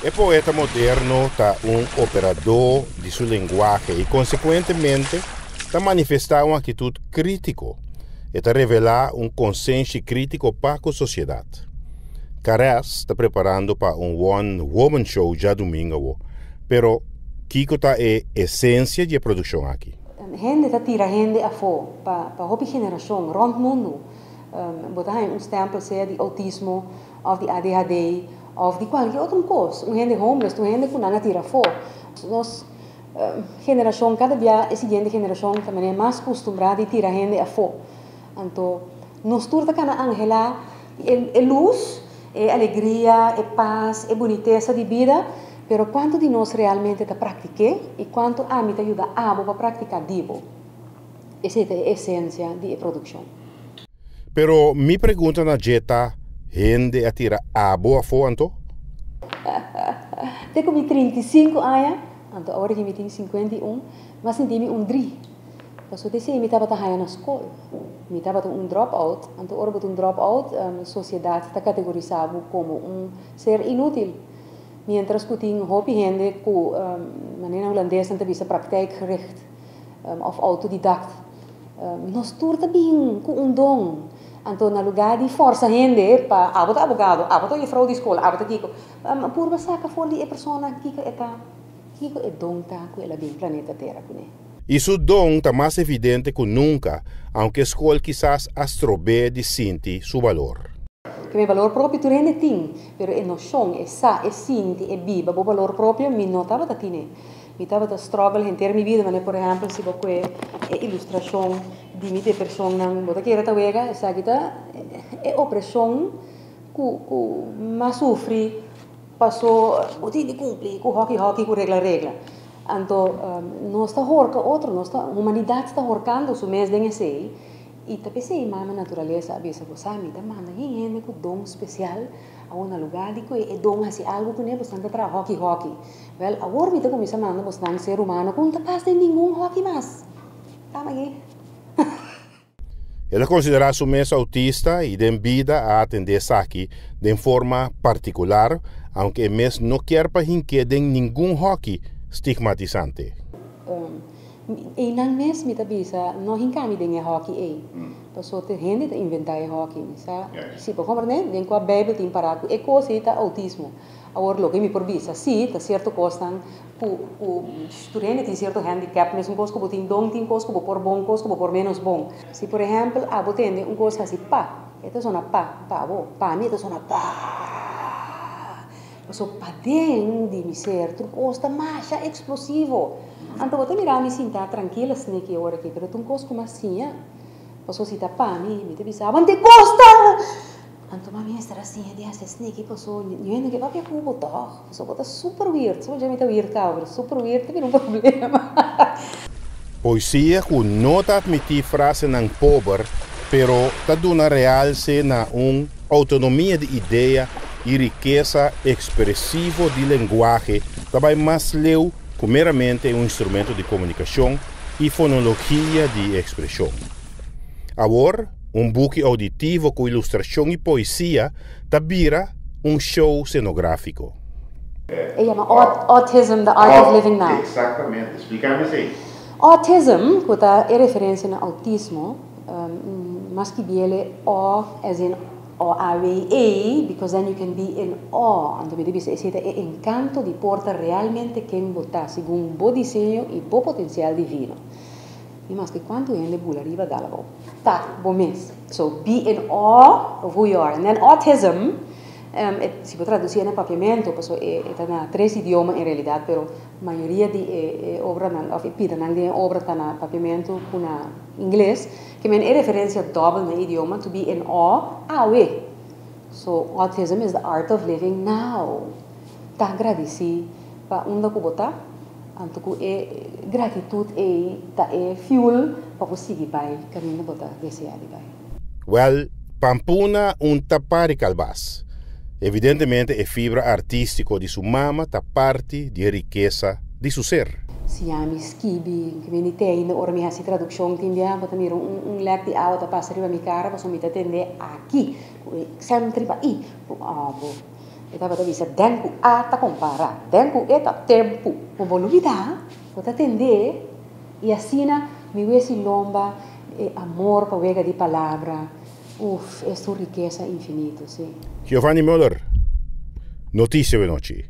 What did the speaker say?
E poeta moderno ta un operadó di su lenguahe i konsekuentemente ta manifestá un akitut krítiko. E ta revelá un konsenshi krítiko pa ku sosiedat. Caress ta preparando pa un won woman show djadumingu awo, pero kiko ta e esensia di e produkshon aki? Hende ta tira hende afó pa hopi generashon rònt mundu. Bo ta haña un stempel sea di outismo of di adhd of di cualkier otro cos. Un hende homeless tu hende cu nan a tira afo. Nos generacion cada dia e siguiente generacion ta mene mas custumbrá di tira hende afo. Anto nos tur ta cana anhelá e luz, e alegria, e paz, e bunitesa di bida, pero cuanto di nos realmente ta practic'é y cuanto ami ta yuda abo pa practica di bo? Esei ta e esencia di e produccion. Pero mi pregunta na dje ta, hende a tira abo afo anto? Te cu mi trinta i sinku aña, anto awor aki mi tin sinkuenta i un, mi a sinti mi un dri. Pasobra esei mi tabata haña na scol. Mi tabata un drop-out. Anto ora bo ta un drop-out, sociedad ta categorisa bo como un ser inutil. Mientras cu tin hopi hende cu manera Hulandes nan ta bisa praktijkgericht. òf outodidact. Nos tur ta bin ku un don. Anto na lugá di fòrsa hende pa abo ta abogado, abo ta jefrou di skol, abo ta kiko, purba saka for di e persona kiko e ta, kiko e don ta ku el a bin planeta Tera kuné. I su don ta mas evidente ku nunka, aunke e skol kisas a strob'é di sinti su balor. Ke mi balor propio tur hende tin, pero e noshon, e sa, e sinti, e biba bo balor propio mi no tabata tin'é. Mi tabata struggle henter mi bida manera por ehempel si bo kue e ilustrashon di mi depershonnan bo ta kere ta wega esaki ta e opreshon ku ku m'ha sufri paso bo tin di kumpli ku hoki hoki ku regla regla anto nos ta horka otro nos ta humanidat ta horkando su mes den esei i ta pesei mama naturalesa a bisa bo sa mi ta manda yin hende ku don spesial a una luga di kue e don hasi algu ku ne boso nan ta traha hoki hoki. Wèl, awor mi ta kuminsá manda bosnan ser humano ku no ta pas den ningun hòki mas. Tama aki. E ta konsiderá su mes outista i den bida a atendé esaki den forma partikular, aunke e mes no kier pa hink'é den ningun hòki stigmatisante. Einan mes mi ta bisa, no hinká mi den e hòki ei. Pasó te hende ta inventá e hòki, mi sa si pa komprendé den kua Beibel tin pará ku e kos ei ta outismo. Awor loke mi por bisa, sí, ta cierto cosnan cu cu studentenan tin cierto handicap, mesun cos cu bo tin don, tin cos cu bo por bon, cos cu bo por menos bon. Si por ehempel abo tende un cos haci pa, e ta sona pa, pa bo, pa mi e ta sona paaaa. Paso paden di mi ser tur cos ta masha explosivo. Ante bo ta mira mi sinta trankil asina aki awor aki, pero ta un cos cu mi a siña. Paso si ta pa mi, mi ta bisa, abo anto e cos ta! Anto mami mester a siña di hasi sneaky paso yo e no ke papia ku bo tòg, paso bo ta super wierd, so dje mi ta wierd kau pero super wierd ta bira un problema. Poesia ku no ta atmití frasenan pober pero ta duna realse na un outonomia di idea i rikesa ekspresivo di lenguahe ta bai mas leu ku meramente un instrumento di komunikashon i fonologia di ekspreshon. Awor. Un buki ouditivo ku ilustrashon i poesia ta bira un show scenográfiko. E yama Autism, The Art of Living Now. Exactamente. Splica mi esey. Autism, cu ta e referencia na autismo, mas ki biel e awe as in oawe-e, because then you can be in awe, anto mi ta bisa esey ta e encanto di por ta realmente ken bo ta, segun bo diseño y bo potencial divino. I maske kuantu hende bula riba dal bo ta bo mes. So bi en awe of who you are and then autism si bo traduci e na papiamento paso e ta na tres idioma en realidad pero mayoria di e obranan of e pidanan den e obra ta na papiamento cu na ingles ke men e referencia doble na e idioma to be in awe awe so autism is the art of living now ta gradici pa unda cu bo ta. Anto ku e gratitut ei ta e fuel pa bo sigui bai kaminda bo ta desea di bai. Wèl, Pampuna un tapá di kalbas. Evidentemente e fibra artístiko di su mama ta parti di e rikesa di su ser. Si ya mi skibi ku mi ni tende ora mi hasi tradukshon tin bia, bo ta mira un lek di awa ta pasa riba mi kara pasobra mi ta tende aki ku e eksèmtriba i ku òbo. E tabata bisa, Den ku a ta kompará, den ku e ta tempu. Bo bo lubidá, bo ta tendé, i asina mi wesi lomba e amor pa wega di palabra, uf, es un rikesa infinito, si. Giovanni Muller, Noticia we nochi.